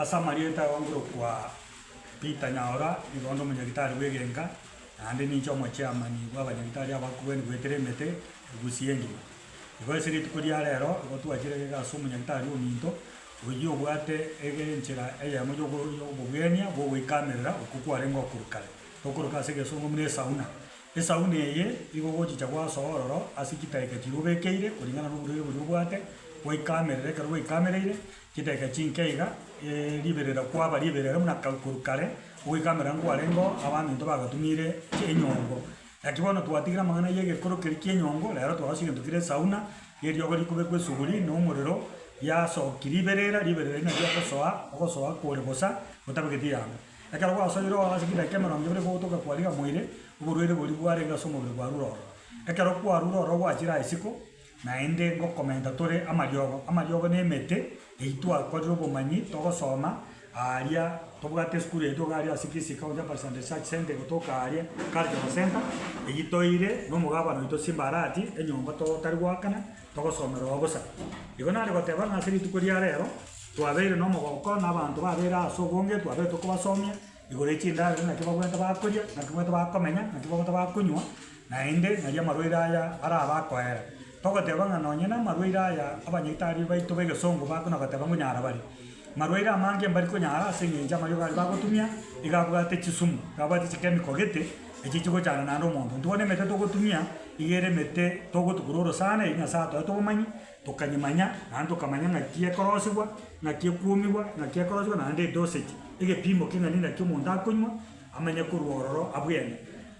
Ase amarieta aongerokwa Peter Nyaora, nigo onde omonyagitari bw'egenga, naende ninche omochairman bw'abanyagitari abakure na goetera emete Gusii engima. Igo ase rituko ria rero igo twachire gega ase omonyagitari ominto. Oyio obwate egenchera eyemo y'obogenia bw'ogoikamerera okwo kwarenge okorwa kare, okoroka ase egesongo buna esauna. Esauna eye igo ogochicha gwasoa ororo ase chidaeka chiria obekeire koringana noborwaire boria obwate, gwaikamerera ekero gwaikamereire chidaeka chinke iga, riberera kwaba riberera buna korwa kare, ogoikamerera nkwarengeo abanto intwe bagatumire enyombo. Naki bono twatigire amang'ana y'egekoro keria ki'enyongo, reero twagosa egento kire esauna, rieriogo rikobekwa esuguri, na omorero, riasoki riberera, riberera erio nario ogosoa, ogosoa kore bosa, gotabegeti yabo. Ekero gwasoire oo ase chidaeka emerongo ebere gogotoka kwariga moire, oborwaire boria bwarenge ase omobere bwarure ororo. Ekero kwarure ororo gwachire aye isiko, Naende ngokomenta tore amariogo, amariogo na emete eyio twakorire obomanyi togosoma aaria tobwate esukuru yaito iga aria ase Kisii County Upper Eastern Research Centre gotoka aaria Cultural Centre eyio toire nomogabana oito Simba Arati enyomba totari goakana togosomera oo bosa. Igo nare goteba ng'a ase rituko ria rero twabeire nomogooko na abanto babeire ase obonge twabeire tokobasomia Igoro y'echindaaro naki babwate bakoria, naki babwate bakomenya, naki babwate bakonywa, naende nari amarwaire aya arabe akoera. Togoteba ng'a nonye namarwaire aya abanyaitari baito b'egesongo bakona goteba nkonyara bare. Marwaire amange mbari konyara ase eng'encho amariogo aria bagotumia iga abwate chisumu, iga abwate chichemical gete, echi chigochanda naende omonto. Intwe bono emete togotumia, iga ere emete togotukurora sana eri Nyasae atoete obomanyi, Tokanyimanya, naende tokamanya ng'aki ekorosegwa, ng'aki ekuomigwa, ng'aki ekorosegwa naende edosetie, egepiimo king'ani naki omonto akonywa, amanye korwa ororo abwene.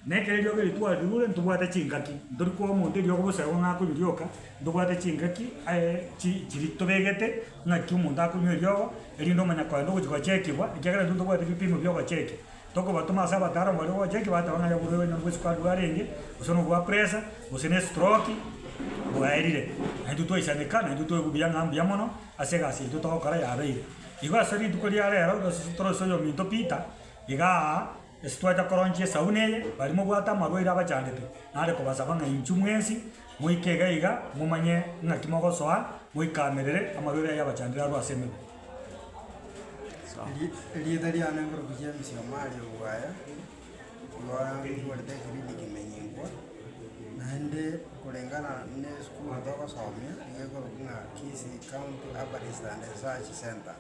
Na ekero eriogo eri twarirure, ntobwate chingaki, ntori koa omonto eriogo boserwa ng'a akonyorioka, ntobwate chingaki aye chi chiri tobegete ng'aki omonto akonywa eriogo, erinde omanya kogenda ogochia gocheekigwa, ekiagera intwe ntobwati ebipiimo biogocheekia. Tokobatoma ase abataaramu baria ogocha eki bateba ng'a yaborwaire onya nobwe esukari arenge, gose nobwa presa, gose n'estroki bwaerire. Naintwe twaisanika, naintwe toigwe buya ng'a mbuya mono ase egasi yaito togokora yabeire. Igo ase rituko ria reero gose torosie oyominto Peter igaa, ase twacha koronchia esauna eye, baria mobwate amarwaire abachandete, nare kobasaba ng'a inchuo mwensi moike iga iga momanye ng'aki mogosoa moikamerere amarwaire ayio abachandire arwe ase emeguo. Erieta riane ngoroku chia emesiamo aria obwaye, rware rogwenerete ekibiindi kimenyekwa, naende korengana na esukuru togosomia, nigo ekoroku ng'a Kisii County Herbalist and Research Centre.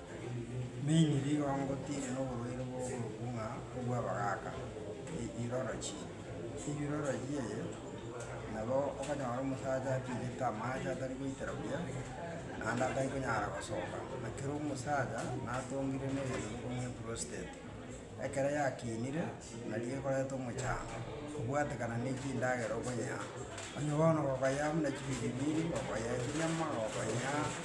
Mainly rigookotiire na oborwaire bwa ogoroku ng'a obwabagaaka, urology. Chiroro chi'eye nabo okonyora omosacha atigete amache atari goitera buya, naende atari konyara gosoka, na kera omosacha natongire negento gokobuna eprostate. Ekero yakinire, nario ekoreta omochango, kobwatekana ne chindagera okonyea, onye bono okoyea buna chibiribiri, okoyea chinyama, okoyea.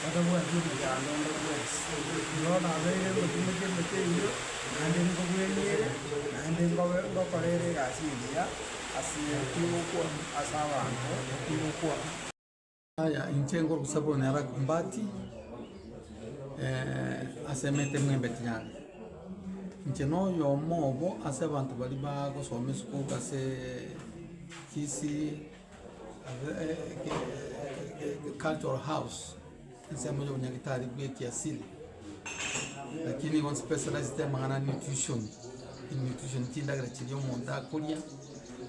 batabwati omonyando onde bwensi. Igo nabeire ngotinyia keria keinwe, naende nkobweniere, naende nkobe ngokorere egasi engiya ase kigokwa ase abanto ekigokwa. Yaya, inche ngorusia bono are Akumbati ase emete mwembeti yane. Inche noyomo obo ase abanto baria bagosoma esukuku ase Kisii. cultural house ensemo ya obonyagitari bwa ekiasili lakini igo nspecializete amang'ana a nutrition, nutrition chindagera chiria omonto akoria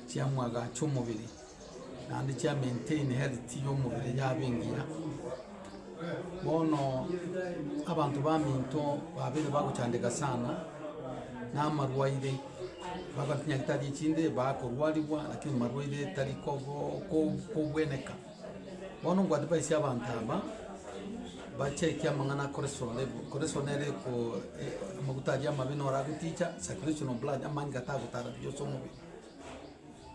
chiamoagacha omobere naende chia maintain health ya omobere yaba engiya. Bono abanto baminto babere bagochandeka sana, na amarwaire babachinyagete aria chinde bakorwarigwa lakini marwaire tari kogo- ko- kobweneka. Bono ngwadevaisi abanto aba, bacheki amang'ana a koresoa level, koresoa nere ko amaguta aria amabe naro agoticha, circulation of blood, amang'ita tagotara buya ase omobere.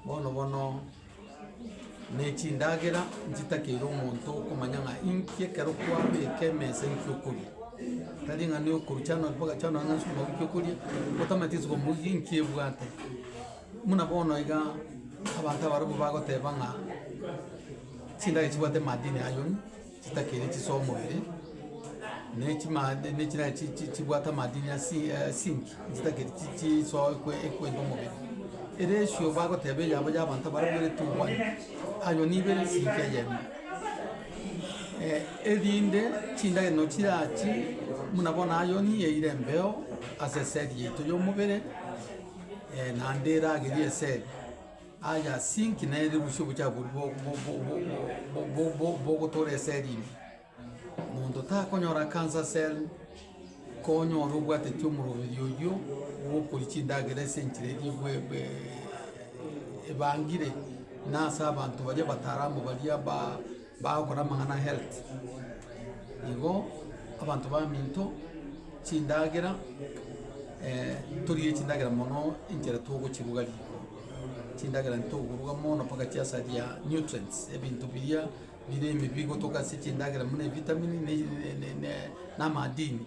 Bono bono nechindagera nchitakeire omonto okomanya ng'a inki ekero kwabeka emesa inki okoria. Tari ng'a nokoru January mpaka January ng'a sukuma wiki okoria, otamanyeti sukuma wiki inki ebwate. Buna bono iga abanto abaribo bagoteba ng'a chindagera chibwate madini ayio. chitakiri chis'omobere, ne chimad ne chira chi chi chibwate amadini asi asinki, chitakiri chi chisoa ekwe ekwenda omobere. Eresio bagoteba eyabo y'abanto abarabwo ere tubwane, ayo nigo ere esinki eyemo. Erinde chindagera no chirachi buna bono iron yaira embeo as'esegi yaito y'omobere, naende eragerie esegi. Aya ase inki nere rusia obochaku obo bogotoora eseli ime? Monto takonyora cancer cell konyora obwateti omoroberi oyio ogokoria chindagera ase enchera eria ebangire, na ase abanto baria abataramu baria ba. Bagokora amang'ana a health, igo abanto baminto chindagera torigie chindagera mono enchera togochiruga riko, chindagera ntokoruga mono mpaka chiasaria nutrients, ebinto biria bire ime bigotoka ase chindagera buna ebitamini na na na amadini.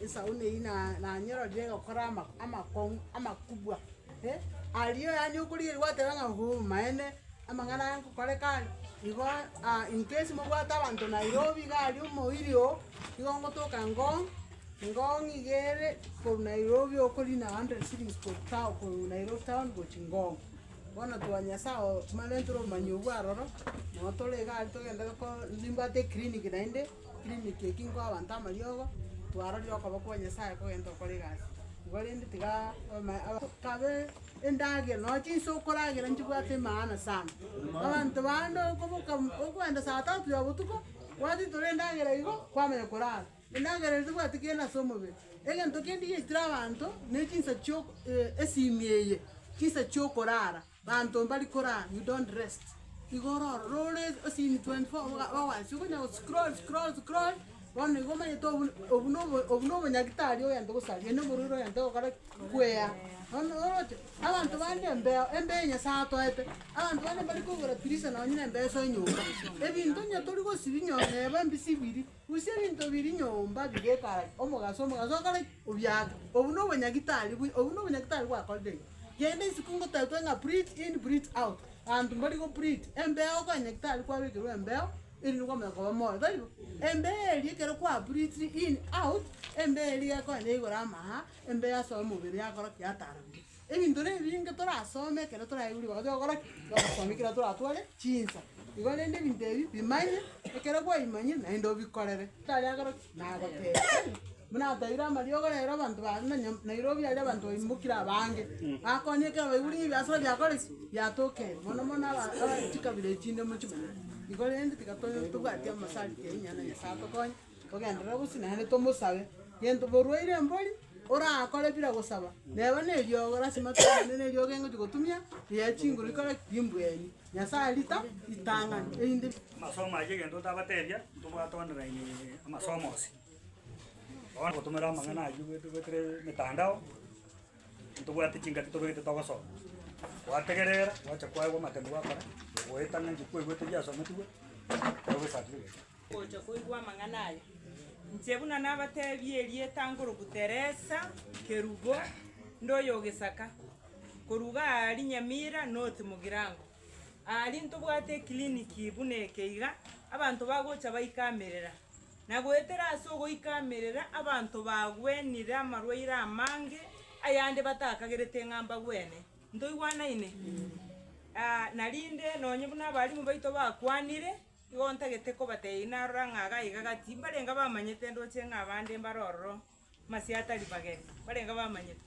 Esauni eyio na- nanyororire egokora ama- amakong'u amakubwa, eh, aria yaani okorigereria gwateba ng'a hoo maene, amang'ana aya ngokoreka aria, igo aa incase mobwate abanto Nairobi iga aria omoiri oo, igo ngotoka ngong', ngong' iga ere korwa Nairobi okorina hundred shillings korwa tao korwa Nairobi town gochia ngong'. Bono twanyia ase ago twarentire obomanyi obwo aroro, nabo tore iga aria togende ko- nimbwate eclinic naende. Clinic eki nko abanto amariogo, twarorire okoba kwa Nyasaye kogenda okora egasi igo rende tiga omae aba kabe endagera nonya chinsa okoragera nchibwate emaana sana. Abanto bande okoboka okoenda saa tatu ya botuko, kwatitora endagera igo, kwamanya korara, endagera ere tebwati kere ase omobere. Egento kende igetire abanto, ne chinsa chiok esimia eye, chinsa chiokorara. Banto mbari koraa you don't rest igo ororo rore esini 24 oboga owansi okonya go scroll scroll scroll bono igo omanyete obun obun nobo obun nobo nyagitari oyente gosaria na omorwiri oyente gokora ki? Kwea. Bono oroche abanto bande embeo embeo ya nyasae atoete, abanto bande mbari kogora prison nonye na embeo ase enyomba, ebinto onye tori gosibi nyoo neba embisibiri. Rusia ebinto biri nyomba bigekarari omogaso omogaso okore ki? Obiake. Obu nobonyagitari bwi obu nobonyagitari bwakorire iga. Genda isiko ngotetwe ng'a breathe in breathe out. Abanto mbari go breathe embeo konyagitari kwabekerwa embeo erinde kwamanya koba moyo taibo? Embeo eria ekero kwa breathe in out embeo eria egekonya igoro amaha embeo ase omobere yakora ki? Yatara buya. Ebinto na ebinge torasome ekero toraigure bagatiga gokora ki? Togosomia ekero toratware chinsa. Igo rende ebinto ebi bimanye, ekero bwaimanyire naende obikorere. Tari agoro ki? Nagotebia tari? Buna ateire amariogo rero abanto ba na nyom- Nairobi aria abanto baimbokire abange. Bakonyire ekero baigure ng'a ebiasara biakore ki? Biatokire. Mono mono aba- aba chikabira echinde mochimanyete. Igo rende tiga to- tobwati amasariti aye nonya na Nyasaye atokonye. Togenderere bosio naende tomosabe gento borwaire embori orakore bira gosaba neba ne eriogo lasima togende ne eriogo engochia gotumia eye ya chinguru ikore ki? Imbweni. Nyasaye rita ritang'ani erinde Amasomo ayio egento ntabatebia, ntobwate online amasomo onsi. Bono gotumera amang'ana ayio goetire goetire emetandao, ntobwati chingaki tobegete togosoma. Gwategerera, gwacha kwaigwa amatemu gwakora, goetana ng'a ebi kwaigwete biasometigwe, nabo esatifigeti. Ngocha koigwa amang'ana aya, inche buna nabateebie erieta nkoroku Teresa, Kerubo, ndoyogesaka, koruga aa Rinyamira, North Mugirango. Aaria ntobwate ecliniki buna eke iga, abanto bagocha baikamerera. Na goetera ase ogoikamerera abanto bagwenire amarwaire amange, ayande batakagerete ng'a mbagwene. Ntoigwanaine? Aa narinde nonye buna abalimu baito bakwanire. Igo ntagete kobatebia narora ng'a gaiga gati mbarenge abamanyete ndoche ng'a abande mbare ororo masiya atari mageni, mbarenge abamanyete.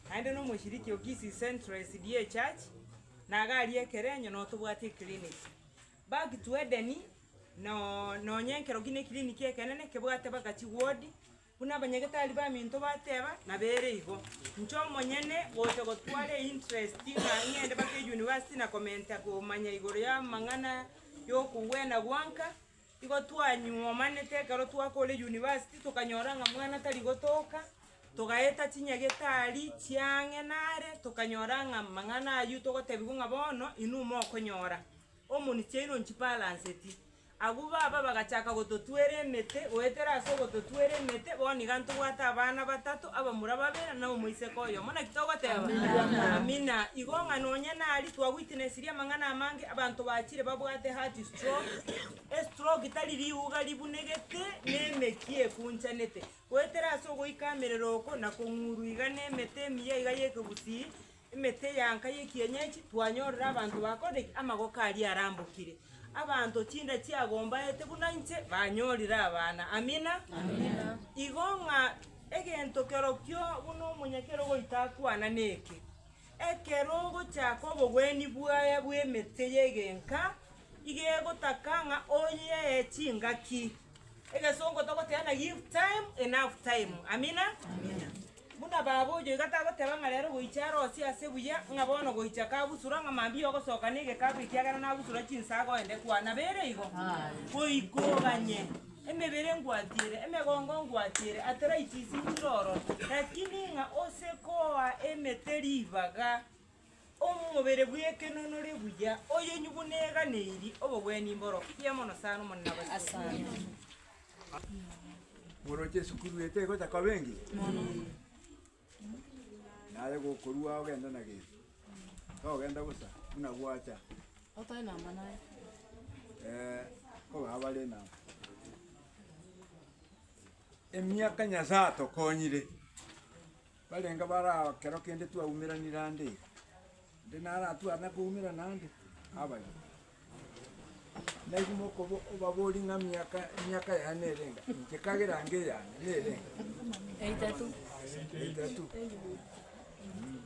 Naende na omoshiriki o Kisii Central SDA Church, na iga aria ekerenyo noo tobwate eclinic. Back to Eden, noo nonye ekero ki ne eclinic ekenene kebwate mpaka chiward, Buna abanyagetari baminto bateba, nabo ere igo. Inche omonyene ngocha gotwara einterest ng'a ng'ende mpaka eyunivasiti na komenta komanya igoro y'amang'ana y'okogwena gwanka. Igo twanyomanete ekero twakore eyunivasiti tokanyora ng'a mwana tari gotoka, togaeta chinyagetari chiang'e nare, tokanyora ng'a amang'ana aywo togotebiwa ng'a bono inwe mokonyora omoni chiaino nchibalanseti. Agwo baba bagachaka gototwera emete. Goetera ase ogototwera emete, bono iga ntobwate abana batato, abamura babere, na omoiseke oyomo. Naki togoteba? Amina. Igo ng'a nonye nari twaguitinesirie amang'ana amange, abanto bachire babwate heart stroke. Estroke tari riuga ribunegete na emeki ekunchanete. Goetera ase ogoika amerero oko na kong'urwa iga nemete emiya iga y'ekegusii, Emete ya nka y'ekienyeji, twanyorire abanto bakore ki? Amagoko aria arambokire. Abanto chinda chiagombaete buna inche banyorire abana. Amina. Igo ng'a egento kerokio buna omonyakero goita akwana neke, ekero ogochaka obogwenia bwaye bw'emete y'egenka, iga egotaka ng'a oyiee chingaki. Egesongo togoteeba na give time enough time. Amina. Buna baba oyo iga tagoteba ng'a rero goicha arosie ase buya, ng'a bono goicha kagusura, ng'a mambia ogosooka negekabu ekiagera nagusura chinsaga oende, kwanabeire igo? Goika oganye emebere ngwatiere, emegongo ngwatiere, arthritis ng'iroro, lakini ng'a ose koa emete ribaga. Omobere bw'ekenonori buya oyonywe buneganeri obogwenia imboro ya mono sana Omonene abasio. Moroche esukuru eye tegocha koba engiya? Naye gokorua ogende na Jesu, togenda bosa buna gwacha. Otari namba naye? Ee, kogaba are namba. Emiaka Nyasaye atokonyire. Barenge barao ekero kende twaumeranire ande iga, inde naratware nakoumerana ande nabarabwo. Nainwe mokoba obaborie ng'a miaka emiaka yane nere enga, inche kagera ange eyane nere enga. Eitatu. Eitatu.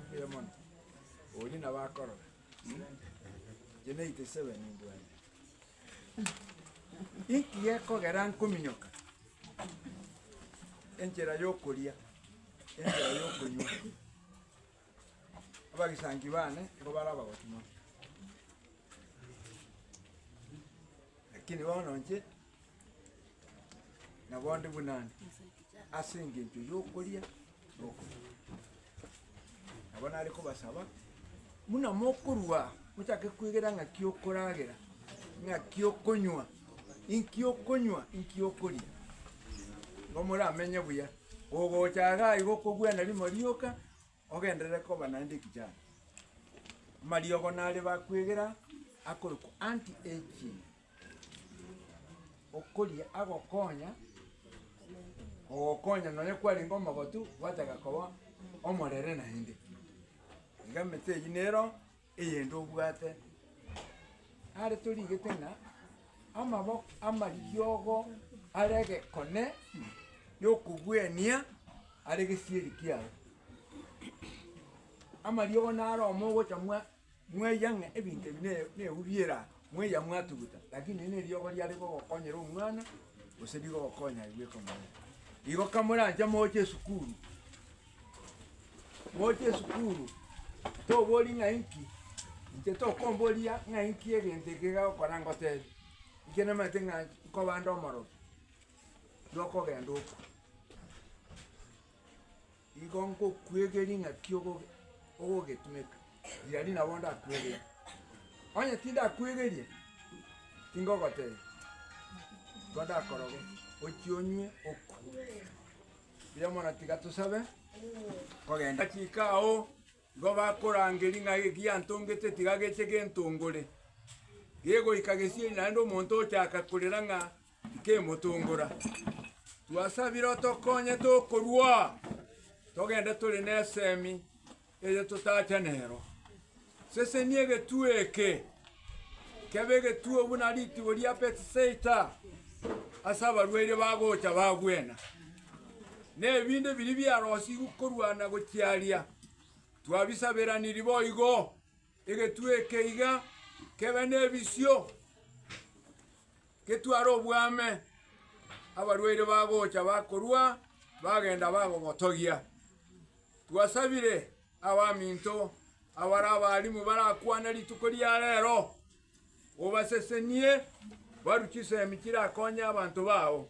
Mbuya mono. Oria nabo akorora. Inche na 87 mbwate. Inki gekogera nkominyoka? Enchera yokoria, enchera yokonywa. Abagisangi bane nigo bare abagoti mono. Lakini bono inche. na bonde buna ande, ase engencho y'okoria na okonywa. Nabo nare kobasaba, buna mokorwa aa, mochake kwegera ng'aki okoragera, ng'aki okonywa, inki okonywa, inki okoria, nigo moramenye buya. Kogocha iga igo okobwana rimo rioka. Ogenderere koba naende ekichano. Amariogo nare bakwegera akorokwa anti-aging, okoria agokonya, ogokonya nonya kwarenge omogotu, gwataka koba omorere naende. Iga emete eyio nero Eyende obwate are torigete ng'a amaboko amariogo are egekone gi'okogwenia are gesieri kiago. Amariogo naro omogocha mwa mwaiya ng'a ebinto ebi ne nebu biera mwaiya mwatuguta lakini eri neriogo riare rigogokonyera omwana gose rigogokonya aye bweka omonyene. Igo kamoranche moche esukuru. Moche esukuru, tobori ng'a inki, inche tokomboria ng'a inki egento eke egagokora ngotebi, inche namanyete ng'a nkobande omorokia, nokogenda oko. Igo ngokwegeri ng'aki ogoge ogogetumeka, riria riria nabo ndakwegerie. Onye tindakwegerie, tingogotebia, igo ndakoroge ochia onywe okwe. Riromono tiga tosabe kogenda. Agachika ao, nigo bakorangeria ng'a egiantongete tiga geche gentongore. Gegoika gesieri naende omonto ochaka korera ng'a tikemotongora. Twasabire otokonye tokorua togende tore nesemi. eye totacha nero. Sesenia egetuo eke kebe egetuo buna ritibo ria Bethsaida ase abarwaire bagocha bagwena, na ebinto biria biarosigwe korwa na gochiaria twabisaberaniri boigo. Egetuo eke iga kebe nebisio. Getware obwame, abarwaire bagocha bakorua, bagenda bagogotogia. Twasabire abaminto abare abaalimu barakwane rituko ria reero, obasesenie baru chisemi chirakonye abanto bao.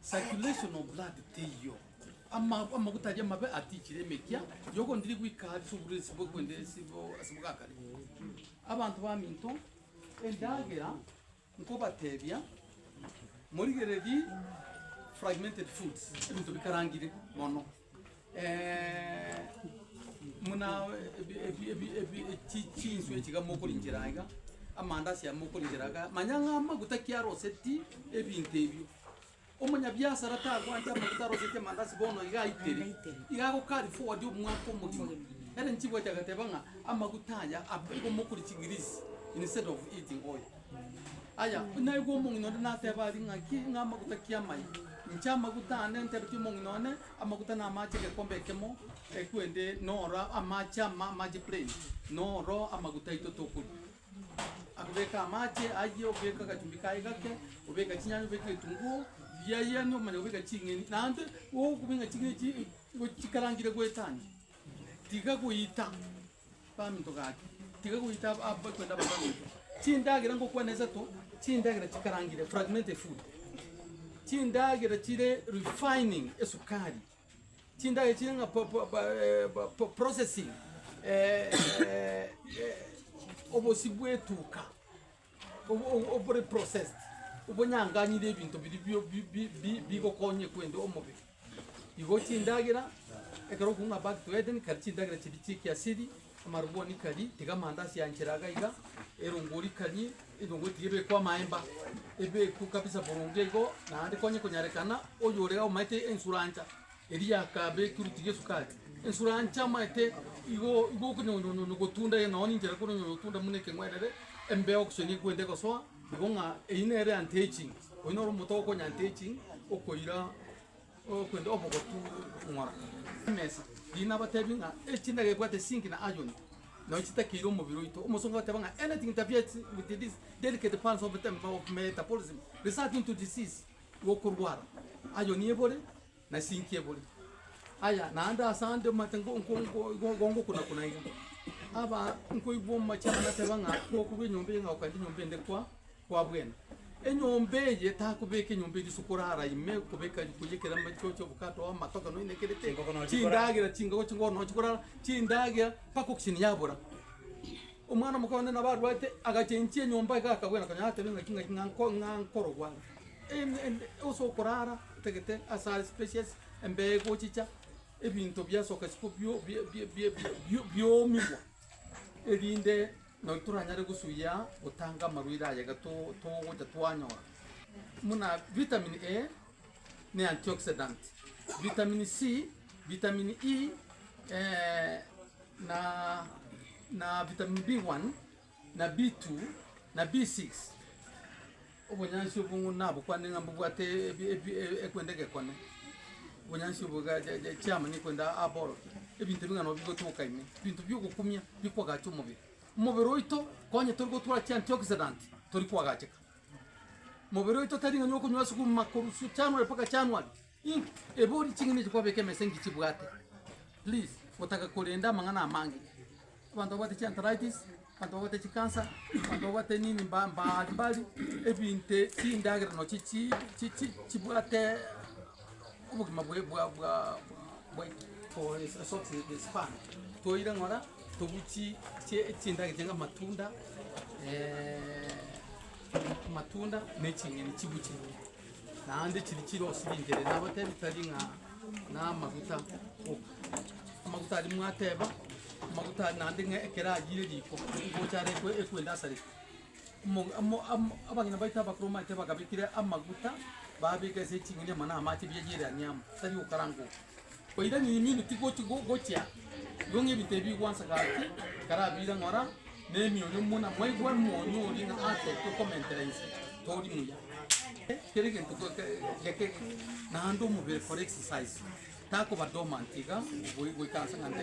Circulation of blood teiyo. Ama, amaguta aria amabe atichire emekia yogondiri gwika ase oborwiri ase bokwende ase bo- ase bogakare. Abanto baminto, endagera nkobatebia morigereri fragmented foods, ebinto bikarangire mono. Buna ebi- ebi- ebi- ebi- chi- chinswe chiga mokorinchera aiga, amandasi aya mokorinchera iga, manya ng'a amaguta ki aroseti ebinto ebio. Omonyabiasara tagwancha amaguta aroseti amandasi bono iga aitere, iga ago carry forward omwaka omogima. Ere nchibwati agateba ng'a amaguta aya, ab- igo mokori chigirisi instead of eating oil. Aya, naigwe omong'ina onde nateba aria ng'aki, ng'a amaguta ki amaye? Inche amaguta ande ntebetie omong'ina one, amaguta namache egekombe ekemo, ekwende noro amache ama amache plain, noro amaguta aito tokoria. Akobeka amache ayio, obeke agachumbi kaye gake, obeke chinyanya, obeke egetunguo, biayeni omanye kobeka ching'eni, naende gokobeka ching'eni echi gochikarangire goetania, tiga goita. Baminto gaki, tiga goita ababe korende abanto baminto. Chindagera ngokwana isato, chindagera chikarangire, fragmented food, chindagera chire refining, esukari, chindagera chire ng'a po- po- ba- eh, ba- po- processing, eh, eh, eh, obosi bw'etuka. obore processed, obonyanganyire ebinto biria bigokonya kwenda omobere. Igo chindagera, ekero okoboko ng'a back to Eden, kare chindagera chiria chia ekiasiri, amarwoni kari, tiga amandasi yanchera iga iga, erongo rikari, erongo tiga ebekwe amaemba, ebekwe kabisa boronge igo, naende konye konyarekana, oyore omanyete ensurancha. Erio akaaba ekiruti gi'esukari ensure ancha amaete, igo okonyonyonyonya ogotunda, ee, nao ninchera konyonyonyonya ogotunda buna ekeng'werere, embeo gose nigo ekwenda egosoa, igo ng'a eyio nere anti-aging, oyio noro omote okonya anti-aging, okoira okwenda obogotu ng'ora. Emesa, riria nabatebie ng'a echindagera ebwate zinc na iron, nao chitakeire omobere oito, omosongo agateba ng'a anything interferes with these delicate parts of metabolism, resulting to disease. Gokorwara, ayo nebore, na sinki ebore. Aya naende ase ande omanyete gongokuna-kuna iga. Aba nkoigwa omochie aba nateba ng'a gokorwa enyomba eye ng'a okaenda enyomba ende kwa kwa bwena. Enyomba eye takobeka enyomba eye risuko orara ime kobeka riko ya ekere amache oche obokato oo amatoke nonya na kere ki, chindagera chingogo chingoro nonya chikorara, chindagera mpaka oksiini yabora. Omwana omoke one nabo arwate agachengia enyomba iga akabwera konya natebe ng'aki ng'aki ng'a nkorogwa are. Ase okorara otagete asare species embe egochicha ebinto biasoka isiko biomigwa erinde nonye toranyare gosuia gotanga amarwaire aya iga togocha twanyora buna vitamin A ne antioxidant, vitamin C, vitamin E na vitamin B1. na B2, na B6. Obonyansi obwo ng'u nabokwane ng'a mbobwate ebi- ebi- e- ekwenda egekone, obonyansi obwo ga- ja- ja- chiama nekwenda aborokia, ebinto ebi ng'a nabo bigotoka ime, ebinto biogokumia bikwagacha omobere. Omobere oito konye tori gotwara chiantioxidant tori kwagacheka. Mobere oito tari ng'a nigo okonywa sukuma korwa su- January mpaka January. Ebori ching'ina echi kwabeka emesa enki chibwate please gotaka korenda amang'ana amange. Abanto babwate chi arthritis, abanto babwate chi cancer, abanto babwate nini mba- mbari mbari, ebinto ebi chindagera nochi chi- chi- chi chibwate obogima bwa- bwa- bwa- bwaito. For a short span toire ng'ora tobwie chi- chi- chindagera chianga amatunda amatunda na eching'eni chibwe chire. Naende chiri chirosi bingere nabatebi tari ng'a namaguta, amaguta aria mwateba, amaguta aria naende ng'a ekero ayire riko ngocha are ekwe- ekwende asarete. Omo- amo- amo- abageni baito abakoro mbaete bagabekire amaguta, babeka ase eching'eni amo na amache bieyereanie amo, tari gokaranga oko. Koira nyunyuminto tigochi gochia igo ng'ebinto ebi bigwansa gaki nkarabire ng'ora nemioyo muna mwaigwa moyo oria ng'a atete okomentera inse tori muya. Kera egento geke naende omobere kora exercise takoba dormant iga goikaransa ng'a nde.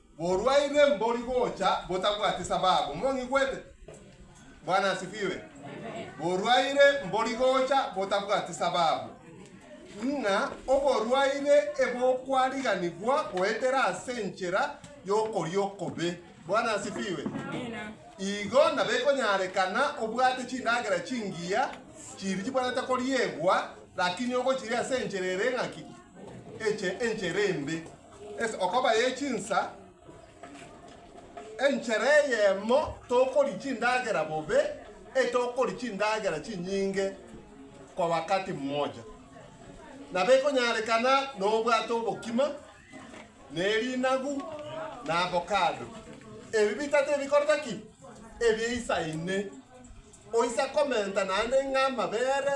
Borwaire mbori gocha botabwati sababu. Mong'igwete? Bwana asifiwe. Borwaire mbori gocha botabwati sababu. Ng'a oborwaire ebokwariganigwa goetera ase enchera y'okoria okobe. Bwana asifiwe. Igo nabekonyarekana obwate chindagera chingiya chiri chibwanete koriegwa, lakini ogochiria ase enchera ere eng'aki, eche enchera embe. Ase okoba ye chinsa, enchera eyemo tokoria chindagera bobe, e tokoria chindagera chinyinge kwa wakati mmoja. Nabo ekonyarekana nobwate obokima, na erinagu, na avocado. Ebi bitato ebikorete ki? Ebiesaine. Oise komenta naende ng'amabere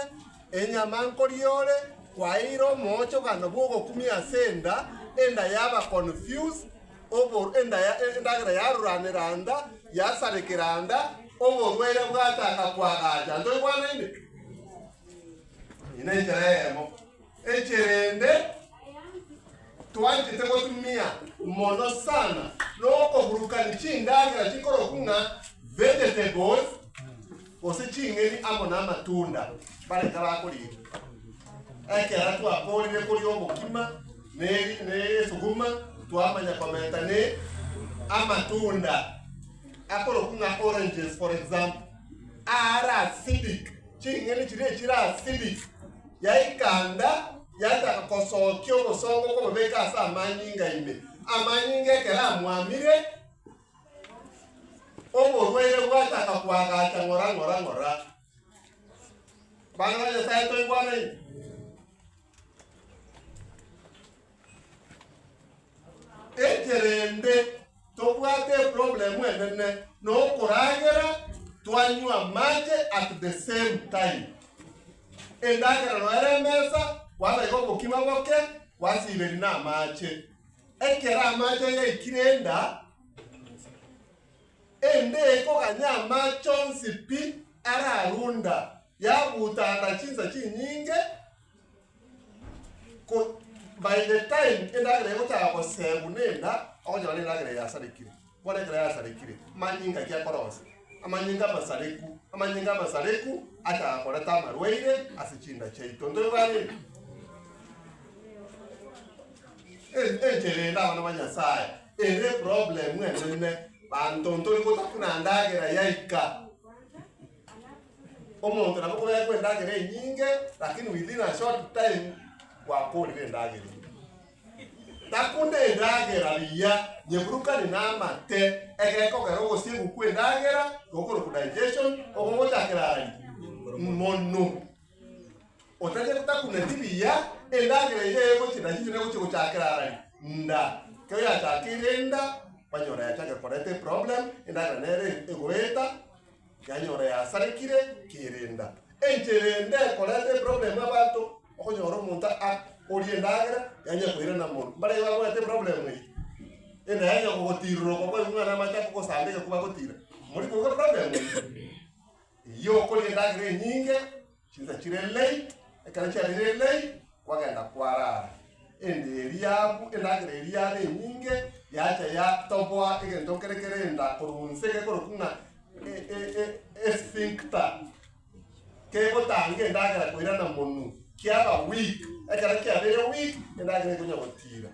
enyama nkoriore kwaeire omoochogano bw'ogokumia ase enda, enda yaba confused, obo- enda ya- endagera yaruranera enda, yasarekera enda, oborwaire bwataka koagacha. Ntoigwanaine? Eye nenchera eyemo. Ekerende twanchete gotumia mono sana nokoburukani chindagera chikorokwu ng'a vegetables gose ching'eni amo namatunda bare tarakorigia. Ekero twakorire koria obokima ne ne esuguma twamanya kobeta ne amatunda akorokwu ng'a oranges for example aare acidic. Ching'eni chiria echire asili yaikanda, yachaka kosookia obosongo kobobeka ase amanyinga ime. Amanyinga ekero amwamire, oborwaire bwachaka koagacha ng'ora ng'ora ng'ora. Bana ba Nyasae, toigwanei? Ekerende tobwate eproblem enene nokoragera twanywa amache at the same time. Endagera noere emesa kwabeka obokima boke kwasiberi na amache. Ekero amache yaikire enda, ende ekoganya amache onsi pi ararunda. Yagutana chinsa chinyinge ko by the time endagera egotaka gosegwa nenda ogonyora nendagera yasarekire bono ekero yasarekire manyinga ki akorosia amanyinga amasareku amanyinga amasareku achaka koreta amarwaire ase chinda chiaito ntoigwanire En- enchera ende abana ba nyasaye ere eproblemu enene banto ntori gotakuna ndagera yaika Omonto nabo kobeekwa endagera enyinge, lakini within a short time gwakorire endagera enye. Takunda endagera buya, nyeburukani namate, ekero ekogera ogosiegwa kw'endagera, gokorokwa digestion, obo gochakera ara ri? Mono. Otache takuneti buya, endagera eye egochi digestion egochi gochakera ara ri? Nda. Ekero yachakeire nda, kwanyora yachakire koreta eproblem, endagera nere egoeta, Nkanyora yasarekire kerenda. Enchera ende ekoreta eproblemu abanto okonyora omonto a oria endagera yanya koirana mono. Mbaraiyo bagoeta eproblemu eye. Ende yanya kogotiroroka kwa ebing'wana amache akogosamba egekuba agotira. Mori koigwa eproblemu eye. Eyio okoria endagera enyinge Chinsa chire lei, ekero chiarire lei, kwagenda kwarara. Ende eria abu endagera eria yaba enyinge, yacha yatoboa egento kere kere enda korwa onse gekorokwa ng'a esphincter, kegotanga endagera koirana monu, kiaba weak. Ekero kiabeire weak, endagera ekonya gotira.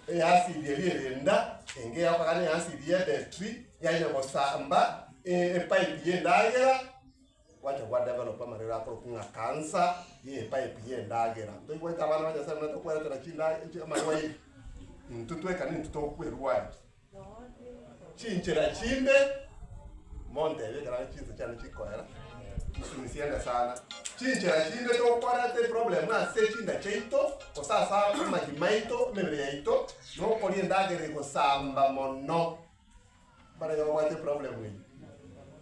Easidi eria ere enda, enga eya okogania easidi ye battery, yanya gosamba epipe y'endagera. Gwacha gwa develop amarero akorokwa ng'a kansa ye epipe ye endagera. Toigwete abana ba Nyasaye muna tokweretera chinda chi amarwaire. Intwe tweka nintwe togokwa erwari. Chinchera chinde montebe ekero are chinsa chiane chikoera chisumisie ende sana. Chinchera chinde tokoreta eproblem ase chinda chiaito gose ase amagima aito, emebere yaito nokoria endagera egosamba mono. Barabwo babwate eproblem eye,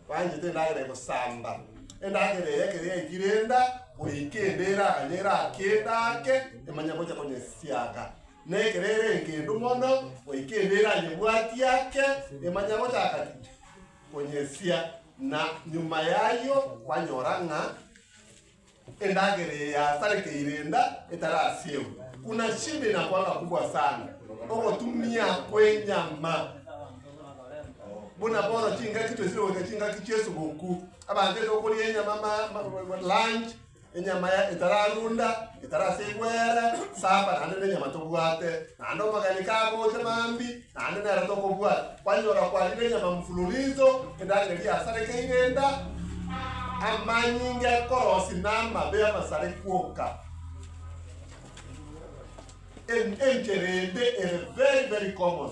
banchete endagera eye gosamba, endagera eye ekero yaikire enda, goika ende eranye erake enda ake, emanye gocha konyesiaga. Na ekero ere engendu mono, goika ende eranyebwati ake, emanye gochaka ki? Konyesia. Na nyuma y'ayio, kwanyora ng'a. Endagera eye yasarekeire enda etarasiegwe, buna chimbe na kwanga kubua sana, ogotumia kw'enyama, buna bono chingaki twesire goika chingaki chi'esuguku, abanto enda okoria enyama ma, ma, lunch, enyama ya- etararunda, etarasiegwe ere, supper, naende nenyama tobwate, naende omogeni kagocha mambi, Naende nere tokobwata kwanyora kwarire enyama mfululizo, endagera yasarekeire enda, amanyinga ekorosi na amabe amasare kwoka. En, enchera ende ere very very common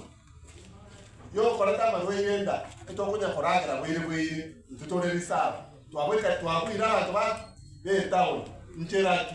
yokoreta amarwaire enda, etokonya koragera bwaire bwaire, intwe tore reserve, twabweka twabwire abanto ba be town, nchera ki?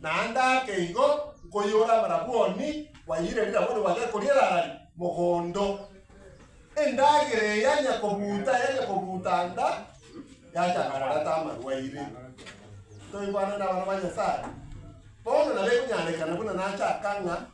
Naende ake igo nkoiyora amarabwoni kwaiyire rirabwoni gwagekori erari mogondo. Endagera eya nyakobuta eya nyakobuta nda yachaka koreta amarwaire. Toigwanane abana ba Nyasaye. Bono nabo ekonyarekana buna nachaka ng'a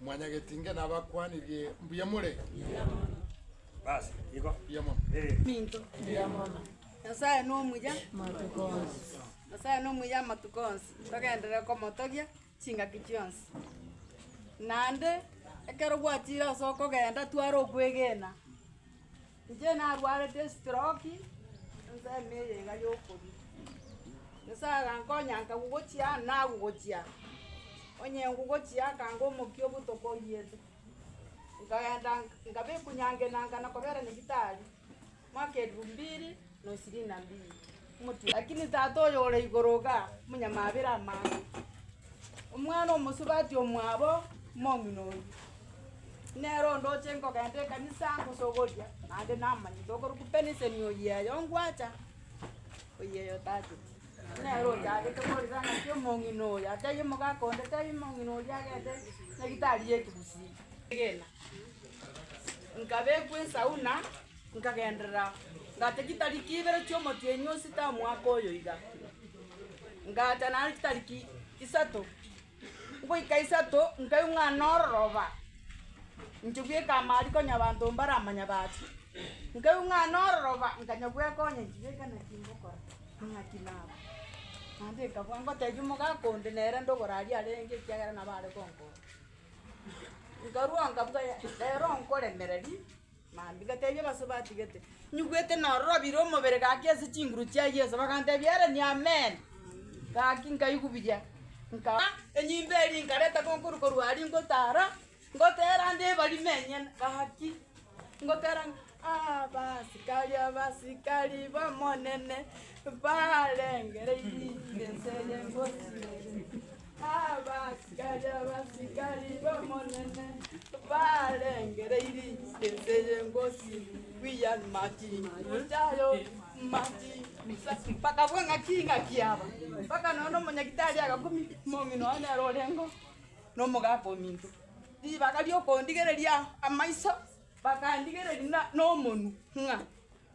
Mwanyagetinge nabakwanirie mbuya more? Mbuya mono. Basi, igo. Mbuya mono. Eh. Minto. Mbuya mono. Nyasae nomuya amatuko onsi. Nyasae nomuya amatuko onsi. Togenderere komotogia chingaki chionsi. Naende ekero gwachire ase okogenda tware okwegena. Inche narwarete estroki ase emeri iga yokoria. Nyasaye agankonya nkagwa gochia aa nagwa gochia aa. Onye ngwa gochia aa akanga omokia obotuko oyiete. Nkaenda nkabekwa nyangenanga na kobera nyagetari mwaka elfu mbiri. Lakini Tata oyo ore igoro iga monyamabera amang'ana. Omwana omosubati omwabo omong'ina oyio, nere onde oche kogenda ekanisa ngosogoria, naende namanyete okorokwa Benson oyeyo ngwacha, oyeyo tachete. Nere ochagete korera ng'aki omong'ina oyo atebie omogaka onde tebia omong'ina oria agende nyagetari ye ekegusii. Egena, nkabekwa esauna. Nkagenderera, ngata chitariki ibere chi'omotienyi o sita omwaka oyo iga, ngata naende chitariki isato. Ngoika isato nkaigwa ng'a nororoba, inche bweka amaari konya abanto mbaramanya baasi. Nkaigwa ng'a nororoba nkanya bwekonya inche bweka naki ngokora, naki naba. Naende nkabua ngotebia omogaka onde nere ndogoraria arenge ekiagera nabo are gonkonya. Nkarua nkabuga rero nkoremereri. Mambia gatebia abaso batigete, Nyigwete narorobire omobere gaki ase chinguru chia Yeso. Bagantebia, Ereni Amen. Gaki nkaigubiria, nka enyimba eria nkareta konkuru korwa aria ngotara, ngotera nde ebarima enyene. Gaki ngotera abasikari abasikari b'Omonene mbarengere inse eye ngosimeri. Abasikari abasikari b'Omonene barengereirie ense y'engosi William Martin Lutaya Martin Luther, bakabua ng'aki ng'aki aba mpaka nonya omonyagitari agakumia omong'ina one nere orenge nomogaka ominto. Ribaga riokondigereria amaiso bakandigereria na- nomonwe ng'a.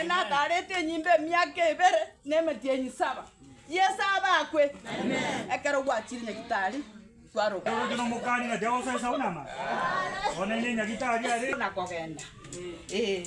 Enataarete enyimbe emiaka ebere na emetienyi saba. Yeso abe akwe. Ekero gwachire Nyagitari, kwaroka. Nakogenda. Ee.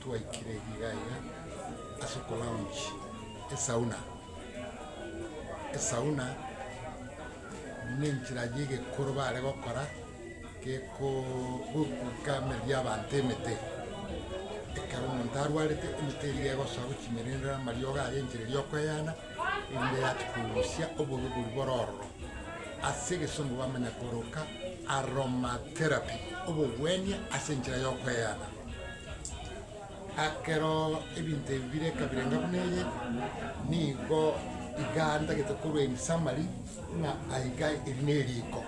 Twaikire erio iga iga ase oko lounge esauna, esauna ne enchera ya egekoro bare gokora gekoo goika emeeri ya abanto emete, ekero omonto arwarete emete eria egosoa gochimerendera amariogo aria enchera eria okoeyana. erinde yache kogusia oborugori bororo ase egesongo bamanye koroka aromatherapy, obogwenia ase enchera y'okweyana. Ekero ebinto ebi bire ekabirenga buna eye, nigo iga ntagete korwa in summary ng'a aiga eri neriko.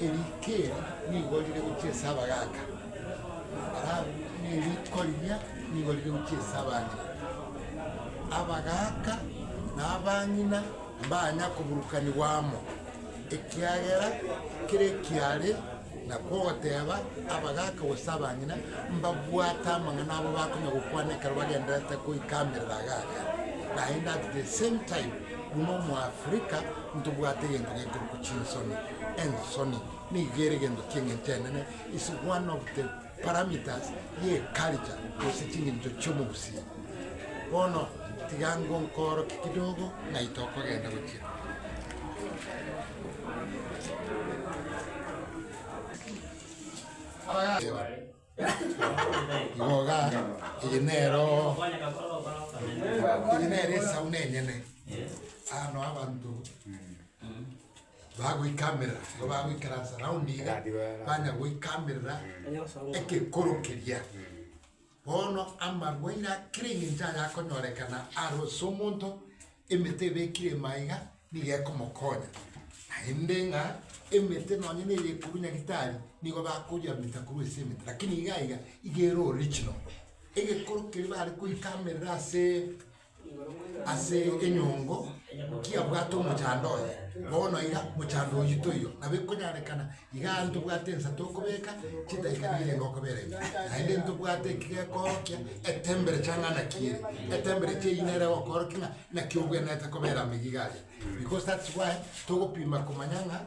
Eriko eri nigo rire gochia ase abagaaka, alafu na eriko riria nigo rire gochia ase abang'ina. Abagaaka na abang'ina mbanya koburukanigwa amo, ekiagera kera ekiaare na kogoteba abagaaka gose abang'ina mbabwate amang'ana abo bakonya gokwana ekero bagendererete goika amerero agaaka, naende at the same time buna omo Africa. Ntobwate egento gekorokwa chinsoni, ensoni nigo ere egento chi'engencho enene, is one of the parameters ye culture gose chingencho chi'omogusii. Bono tiga ngonkooroke kidogo ng'ai tokogenda gochia. Igoga, eye nero eye nero esauna enyene. Aa no abanto bagoikamerera, igo bagoikaransa round iga, banya goikamerera egekoro keria. Bono amarwaire a kera engencho ayakonyorekana arose omonto, emete ebekire ime aiga. Nigo ekomokonya naende ng'a emete nonye neria ekorwa Nyagetari nigo bakoyamita korwa ase emete, lakini iga iga iga ere original. Egekoro keria bare koika amerere ase ase enyongo, kiabwate omochando oye, bono iga mochando oyio toiyo, nabo ekonyarekana Igaa ntobwate ensa tokobeka chidaika biire nokobera ebi, naende ntobwate ekigekoorokia etembere chang'ana kiire, etembere echi eyio nere egokoorokia ng'a naki obwenerete kobera amo iga aria. Because that's why togopima komanya ng'a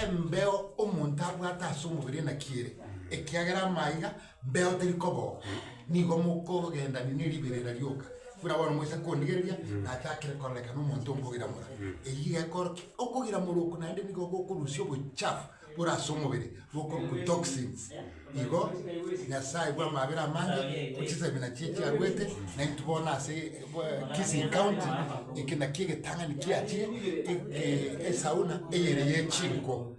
embeo omonto abwate ase omobere naki ere, ekiagera amaiga. Mbeo teri koboko, nigo mokogendania neriberera rioka. Buna bono moise kondigereria, nachakire koraneka nomonto onkogiramora. Eyio igekora ki? Okogiramora oko naende nigo gokorusia obochafu bore ase omobere, bokorokwa toxins. Igo Nyasae bw'amabera amange, chisabina chie chiaruete, naintwe bono ase Kisii County, eke nakio egetang'ani kiachire, esauna eyere ye chinko.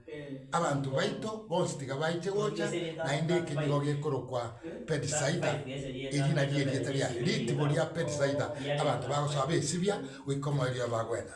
Abanto baito bonsi tiga baiche gocha, naende eke nigo gekorokwa Bethisaida, eri nario erieta ria ritibo ria Bethisaida, abanto bagosoa besibia, goika omoerio ebagwena.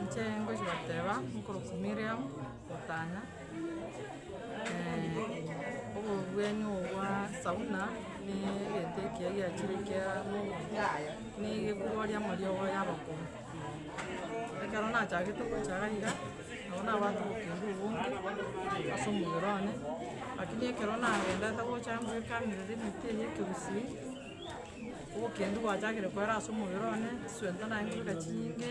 inche ngochi goteba nkorokwa Miriam, gotanya. obobwani obo bwa sauna ne egento ekiya giachire kia ne egekugoria amariogo ya abakoro. Ekero nachagete gocha iga iga, nabo nabwate obokendu obonge ase omobere one, lakini ekero nagenderete gocha ngoikanerera emeti eye ya ekegusii, obokendu bwachakire koera ase omobere one, chisuento naye nkoira chinyinge.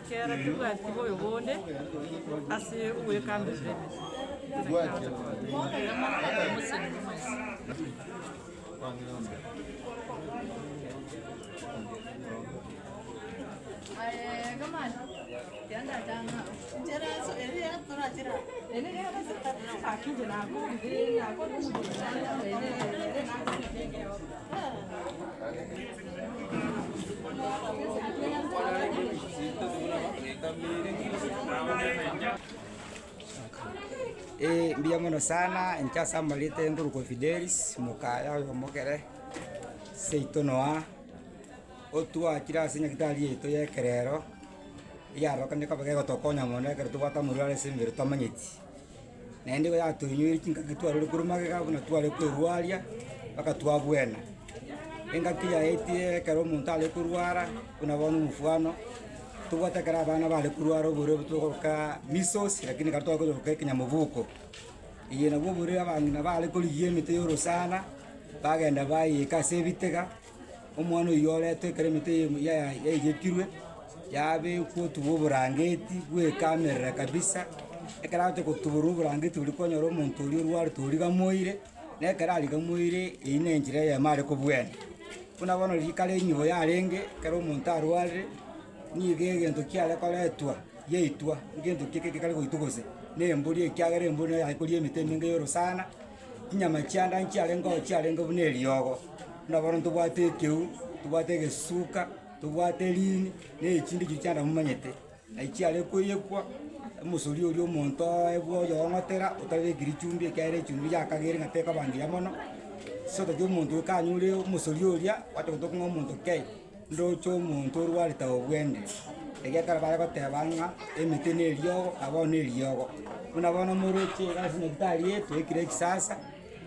Kera tebwati moyo bonde ase ogwekamberera emeso. Ee, mbuya mono sana inche ase amarieta ya Nkoruko Fidelis, mokaya oyo omokere seito Noah, otwachire ase nyagetari yaito ya ekerero, eyarokerenetie koba gegotokonya mono ekero tobwate amorwaro ase emebere twamanyeti. Naende igo yatoinyoire chingaki twarure korwa magega buna tware kwerwaria mpaka twabwena. Engaki yaetire ekero omonto are korwara buna bono omofwano, tobwate ekero abana bare korwara oborwaire obwo togoroka measles lakini ekero twakonyora ekenyamoboko. Eye nabwo oborwaire abang'ina bare korigia emete ya orosana, bagenda bayeika ase ebitega. Omwana oyio oretwe ekero emete eye ya- ya- yaigekirwe, yabekwa otubwa oborangeti bw'ekamerera kabisa, ekero agochia gotuborwa oborangeti oria kwanyora omonto oria orwarete origamoire, na ekero arigamoire, eyio ne enchera eyemo are kobwenia. Buna bono riria kare enyigo yarenge, ekero omonto arwarire, nigo egento kiare koretwa yaitwa, egento ki- ki- ki- kare goitwa gose, na embori ekiagera embori nere yakoria emete emenge ya orosana. Chinyama chianda nchiarenge oo chiarenge buna eriogo, buna bono ntobwate ekeu, tobwate egesuka, tobwate erini, na echinde chiria chianda momanyete, na chiare koyekwa, omosori oria omonto oye bwoyoong'otera otabekirie chumbi ekiagera echumbi yakagere ng'a tekaba ngiya mono, sotaeti omonto kanyore omosori oria, gwatogote okong'a omonto kei. Ndoche omonto orwarete obwende, egiagera bare goteba ng'a emete neriogo, na bono neriogo. Buna bono moroche iga ase nyagitari eye, twaikire ekisasa,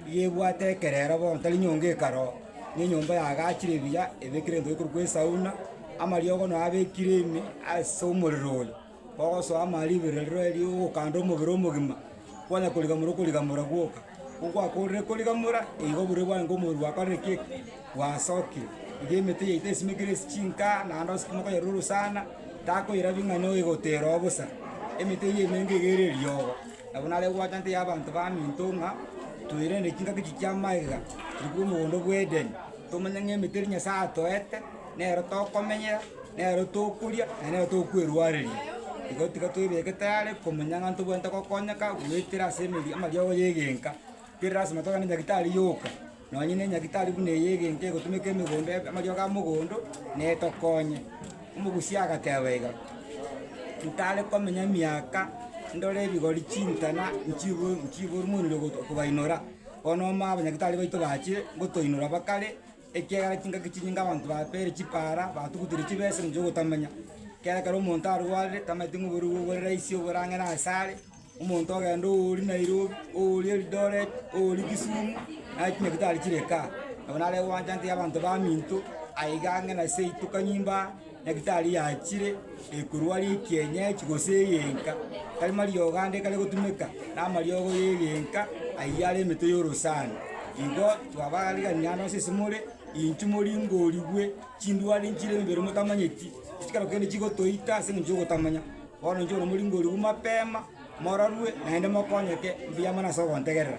iga ebwate ekerero bono tari nyonga ekare oo, ne enyomba yagachire buya, ebekire ebinto bikorwa kwa esauna, amariogo nabekire ime ase omorero oyo. Ogosoa amaare ribero rire eri ogokanda omobere omogima, kwanya korigamora okorigamora gwoka. Ko gwakorire korigamora, igo buru bwango omobere gwakorire ki? Gwasokire. Iga emete yaito esimekire ase chinka, naende osukuma koyeruru sana, takoirabia ng'a noigotera oo bosa. Emete eyio emenge iga ere eriogo. Nabo nabo egwachanete ya abanto baminto ng'a, toirende chingaki echi chi'amaiga, tiri bwomogomba bwa Edeni, tomanye ng'a emete eri Nyasaye atoete. nero tokomenyera, nero tokoria, na nero tokwerwareria. Igo tiga twebeke tayari komenya ng'a ntobwenerete gokonyeka goetera ase emeri amariogo y'egenka. Tiga lasima togende nyagetari yoka, nonye ne nyagetari buna eye y'egenka egotumeka emegondo ebe amariogo ya mogondo, netokonye. Omogusia agateba iga, ntare komenya miaka ndore ebigori chintana nchibu nchiburumoniri ogo okobainora, bono omo abanyagetari baito bachire, ngotoinora bakare. Ekiagera chingaki chinyinge abanto bapeire chipaara, batugutire chibesa na chi'ogotamanya. Ekiagera ekero omonto arwarire, tamaeti ng'a oboruoti bobwe bore raisi oborang'ere asare, omonto ogenda oori Nairobi, oori Eldoret, oori Kisumu, naye chinyaki tari chire kaa. Nabo nare gwancha ntebi abanto baminto, aiga ang'e na seito kanyimbo aa. Nektari yachire ekorwa ria ekienyeji gose egenka, tari mariogo ande ekare gotumeka, namariogo y'egenka ayio are emetwe y'orosana. Igo twabariganire ande onsi ase more, inchuo moringorigwe chindwari nchire emebere motamanyeti, chikero kende chigotoita ase engencho y'ogotamanya. Bono inchuo bono moringorigwe mapema, mororwe, naende mokonyeke mbuya mono ase ogontegerera.